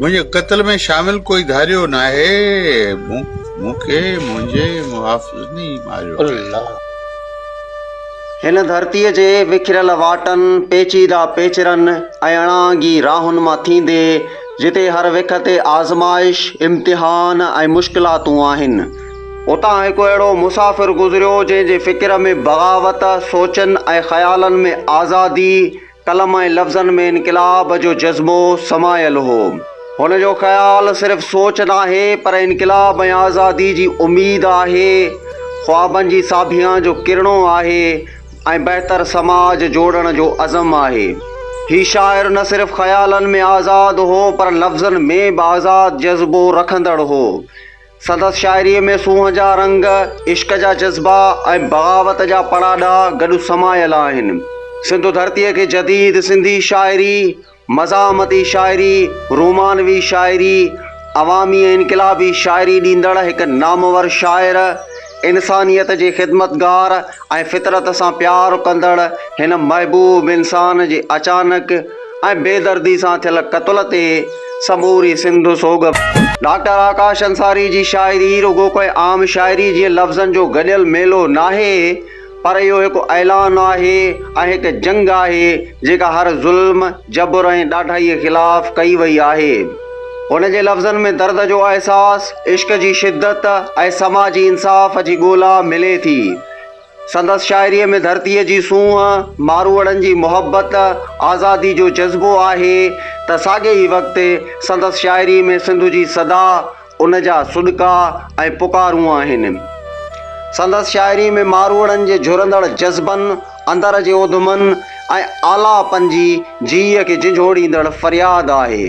منهنجي قتل ۾ شامل ڪوئي ڌاريو ناهي مون کي منهنجي محافظن ئي ماريو هن ڌرتيء جي وکريل واٽن، پيچيده پيچرن ۽ اڻانگي راهن مان ٿيندي، جتي هر وک تي آزمائش، امتحان ۽ مشڪلاتون آهن، اتان هڪ اهڙو مسافر گذريو، جنهن جي فڪر ۾ بغاوت، سوچن ۽ خيالن ۾ آزادي، قلم ۽ لفظن ۾ انقلاب جو جذبو سمايل هو. هن جو خيال صرف سوچ ناهي، پر انقلاب ۽ آزادي جي اميد آهي، خوابن جي ساڀيان جو ڪرڻو آهي ۽ بهتر سماج جوڙڻ جو عزم آهي. هي شاعر نه صرف خيالن ۾ آزاد هو، پر لفظن ۾ به آزاد جذبو رکندڙ هو. سندس شاعريء ۾ سونهن جا رنگ، عشق جا جذبا ۽ بغاوت جا پڙاڏا گڏ سمايل آهن. سنڌو ڌرتيء کي جديد سنڌي شاعري، مزاحمتي شاعري، رومانوي شاعري، عوامي ۽ انقلابي شاعري ڏيندڙ هڪ نامور شاعر، انسانيت جي خدمتگار ۽ فطرت سان پيار ڪندڙ هن محبوب انسان جي اچانڪ ۽ بي دردي سان ٿيل قتل تي سموري سنڌ سوڳ ۾ آهي. ڊاڪٽر آڪاش انصاري جي شاعري رڳو ڪنهن عام شاعري جيئن لفظن جو گڏيل ميلو ناهي پر اهو هڪ اعلان آهي ۽ هڪ جنگ آهي جيڪا هر ظلم، جبر ۽ ڏاڍائيء خلاف ڪئي وئي آهي. هن جي لفظن ۾ درد جو احساس، عشق جي شدت ۽ سماجي انصاف جي ڳولا ملي ٿي. سندس شاعريء ۾ ڌرتيء جي سونهن، ماروئڙن جي محبت، آزادي جو جذبو آهي ته ساڳئي وقت سندس شاعريء ۾ سنڌ جي صدا، ان جا سڏڪا ۽ پڪارون آهن. سندس شاعري ۾ ماروئڙن جي جهرندڙ جذبن، اندر جي اوڌمن ۽ آلاپن جي جيء کي جنجهوڙيندڙ فرياد آهي.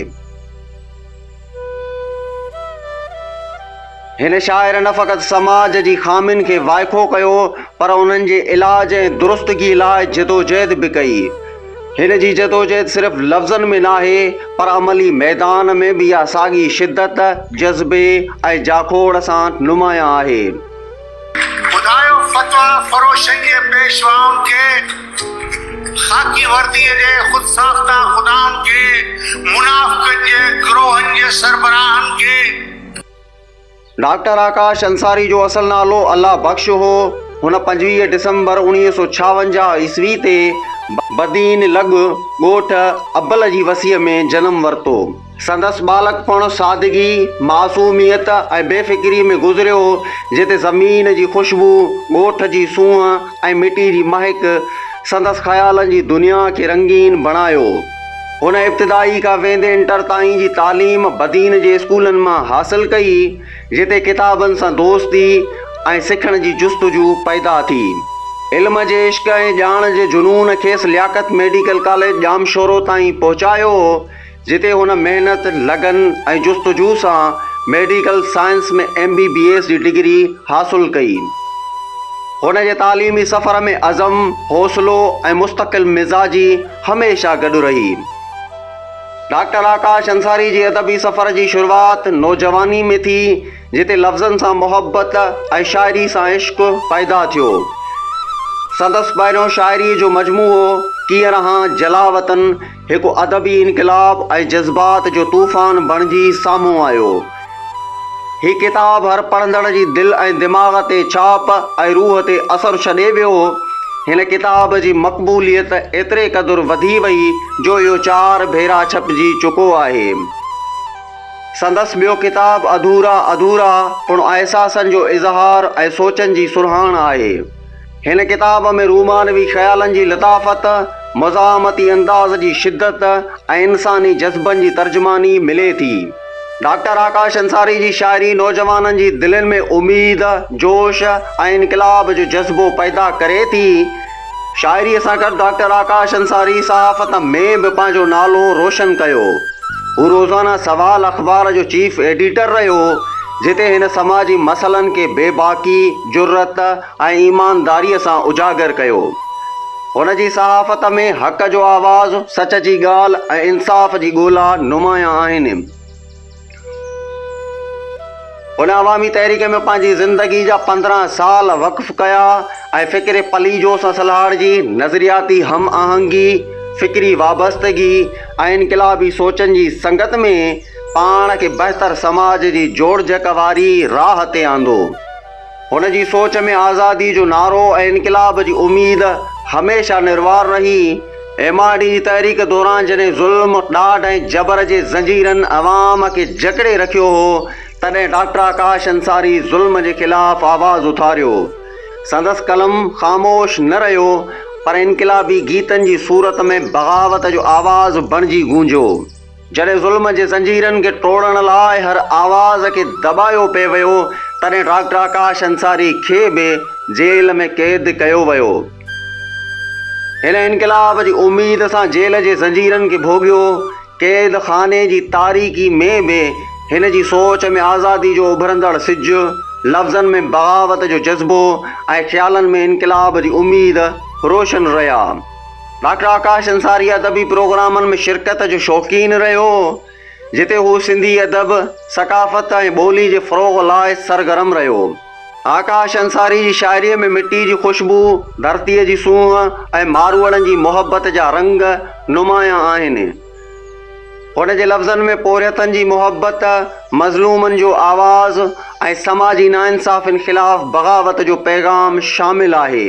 هن شاعر نه فقط سماج جي خامين کي وائکو ڪيو پر انهن جي علاج ۽ درستگيء لاء جدوجهد به ڪئي. هن جي جدوجهد صرف لفظن ۾ ناهي پر عملي ميدان ۾ به اها ساڳي شدت، جذبي ۽ جاکوڙ سان نمايان آهي. ٻڌايو فتويٰ فروشنگيء پيشوائن کي، خاڪي ورديء جي خود ساخته خدائن کي، منافقن جي گروهن جي سربراهن کي. ڊاڪٽر آڪاش انصاري جو اصل نالو الله بخش هو. هن پنجويهه ڊسمبر اوڻيهه سؤ ڇاونجاهه عيسوي تي بدين لڳ ڳوٺ ابل جي وسيء ۾ جنم ورتو. سندس ٻالڪپڻ سادگي، معصوميت ۽ بي فڪريء ۾ گذريو، جتي زمين جي خوشبو، ڳوٺ جي سونهن ۽ مٽي جي مهڪ سندس خيالن جي دنيا کي رنگين بڻايو. هن ابتدائي کان ويندي انٽر تائين جي تعليم بدين جي اسڪولن مان حاصل ڪئي، جتي ڪتابن سان دوستي ۽ سکڻ جي جستجو پيدا ٿي. علم جي عشق ۽ ڄاڻ جي جنون کيس لياقت ميڊيڪل ڪاليج ڄامشورو تائين پهچايو، جتي هن محنت، لگن ۽ جستجو سان medical science ۾ M B B S جي ڊگري حاصل ڪئي. هن جي تعليمي سفر ۾ عزم، حوصلو ۽ مستقل مزاجي، هميشه گڏ رهي. ڊاڪٽر آڪاش انصاري جي ادبي سفر جي شروعات نوجواني ۾ ٿي جتي لفظن سان محبت ۽ شاعري سان عشق پيدا ٿيو. سندس پهريون شاعري جو مجموعو ڪيئن رهان جلاوطن هڪ ادبي انقلاب ۽ جذبات جو طوفان بڻجي سامهون آيو. هي ڪتاب هر پڙهندڙ جي دل ۽ دماغ تي ڇاپ ۽ روح تي اثر ڇڏي ويو. هن ڪتاب جي مقبوليت ايتري قدر وڌي وئي جو اهو چار ڀيرا ڇپجي چڪو آهي. سندس ٻيو ڪتاب اڌورا اڌورا پڻ احساسن جو اظهار ۽ سوچن جي سرهاڻ آهي. هن ڪتاب ۾ رومانوي خيالن جي لطافت، مزاحمتي انداز جي شدت ۽ انساني جذبن جي ترجماني ملي ٿي. ڊاڪٽر آڪاش انصاري جي شاعري نوجوانن جي دلين ۾ اميد، جوش ۽ انقلاب جو جذبو پيدا ڪري ٿي. شاعريء سان گڏ ڊاڪٽر آڪاش انصاري صحافت ۾ به پنهنجو نالو روشن ڪيو. هو روزانه سوال اخبار جو چيف ايڊيٽر رهيو، جتي هن سماجي مسئلن کي بي باڪي، جرئت، ۽ ايمانداريء سان اجاگر ڪيو. هن جي صحافت ۾ حق جو آواز، سچ جي ڳالهه ۽ انصاف جي ڳولا نمايان آهن. هن عوامي تحريڪ ۾ پنهنجي زندگي جا پندرهن سال وقف ڪيا ۽ فڪر پليجو سان سلهاڙجي نظرياتي هم آهنگي، فڪري وابستگي ۽ انقلابي سوچن جي سنگت ۾ پاڻ کي بهتر سماج جي جوڙجڪ واري راهه تي آندو. هن جي سوچ ۾ آزادي جو نعرو ۽ انقلاب جي اميد هميشه نروار رهي. ايم آر ڊي جي تحريڪ دوران جڏهن ظلم، ڏاڍ ۽ جبر جي زنجيرن عوام کي جڪڙي رکيو هو، تڏهن ڊاڪٽر آڪاش انصاري ظلم جي خلاف آواز اٿاريو. سندس قلم خاموش نه رهيو، پر انقلابي گيتن جي صورت ۾ بغاوت جو آواز بڻجي گونجيو. جڏهن ظلم جي زنجيرن کي ٽوڙڻ لاء هر آواز کي دٻايو پئي ويو، تڏهن ڊاڪٽر آڪاش انصاري کي به جيل ۾ قيد ڪيو ويو. هن انقلاب جي اميد سان جيل جي زنجيرن کي ڀوڳيو. قيد خاني جي تاريڪي ۾ به هن جي سوچ ۾ آزادي جو اڀرندڙ سج، لفظن ۾ بغاوت جو جذبو ۽ خيالن ۾ انقلاب جي اميد روشن رهيا. ڊاڪٽر آڪاش انصاري ادبي پروگرامن ۾ شرڪت جو شوقين رهيو هو، جتي هو سنڌي ادب، ثقافت ۽ ٻولي جي فروغ لاء سرگرم رهيو هو. آڪاش انصاري جي شاعريء ۾ مٽي جي خوشبوء، ڌرتيء جي سونهن ۽ ماروئڙن جي محبت جا رنگ نمايان آهن. هن جي لفظن ۾ پورهيتن جي محبت، مظلومن جو آواز ۽ سماجي ناانصافين خلاف بغاوت جو پيغام شامل آهي.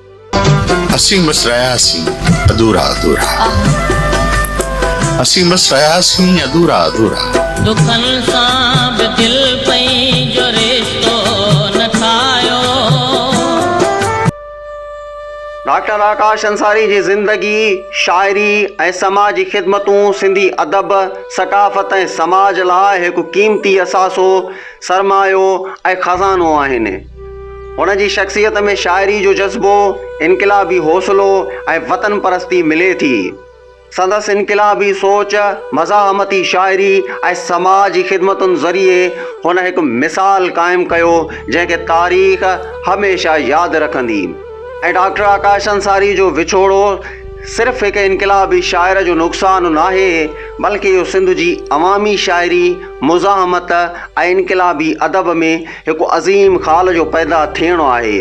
اسين بس رهياسين اڌورا اڌورا اسين بس رهياسين اڌورا اڌورا دکن سان به دل پئي جو رشتو نه ٺاهيو ڊاڪٽر آڪاش انصاري جي زندگي، شاعري ۽ سماجي خدمتون سنڌي ادب، ثقافت ۽ سماج لاء هڪ قيمتي اثاثو، سرمايو ۽ خزانو آهن. هن جي شخصيت ۾ شاعري جو جذبو، انقلابي حوصلو ۽ وطن پرستي ملي ٿي. سندس انقلابي سوچ، مزاحمتي شاعري ۽ سماج جي خدمتن ذريعي هن هڪ مثال قائم ڪيو جنهن کي تاريخ هميشه ياد رکندي ۽ ڊاڪٽر آڪاش انصاري جو وڇوڙو صرف هڪ انقلابي شاعر جو نقصان ناهي بلڪه اهو سنڌ جي عوامي شاعري، مزاحمت ۽ انقلابي ادب ۾ هڪ عظيم خال جو پيدا ٿيڻ آهي.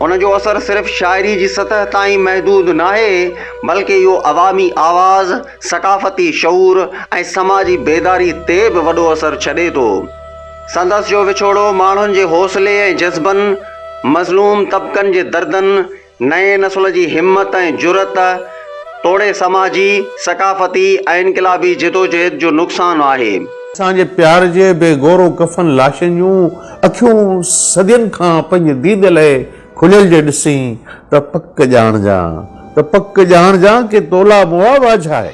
ان جو اثر صرف شاعري جي سطح تائين محدود ناهي، بلڪ اهو عوامي آواز، ثقافتي شعور ۽ سماجي بيداري تي به وڏو اثر ڇڏي ٿو. سندس جو وڇوڙو ماڻهن جي حوصلي ۽ جذبن، مظلوم طبقن جي دردن نئين نسل جي همت ۽ جرئت توڙي سماجي، ثقافتي ۽ انقلابي جدوجهد جو نقصان آهي. اسان جي پيار جي بي گورو ڪفن لاشين جون اکيون صدين کان پنهنجي ديد لئه کليل جي ڏسين ته پڪ ڄاڻجان ته پڪ ڄاڻجان ڪي تولا مئا واجهائي.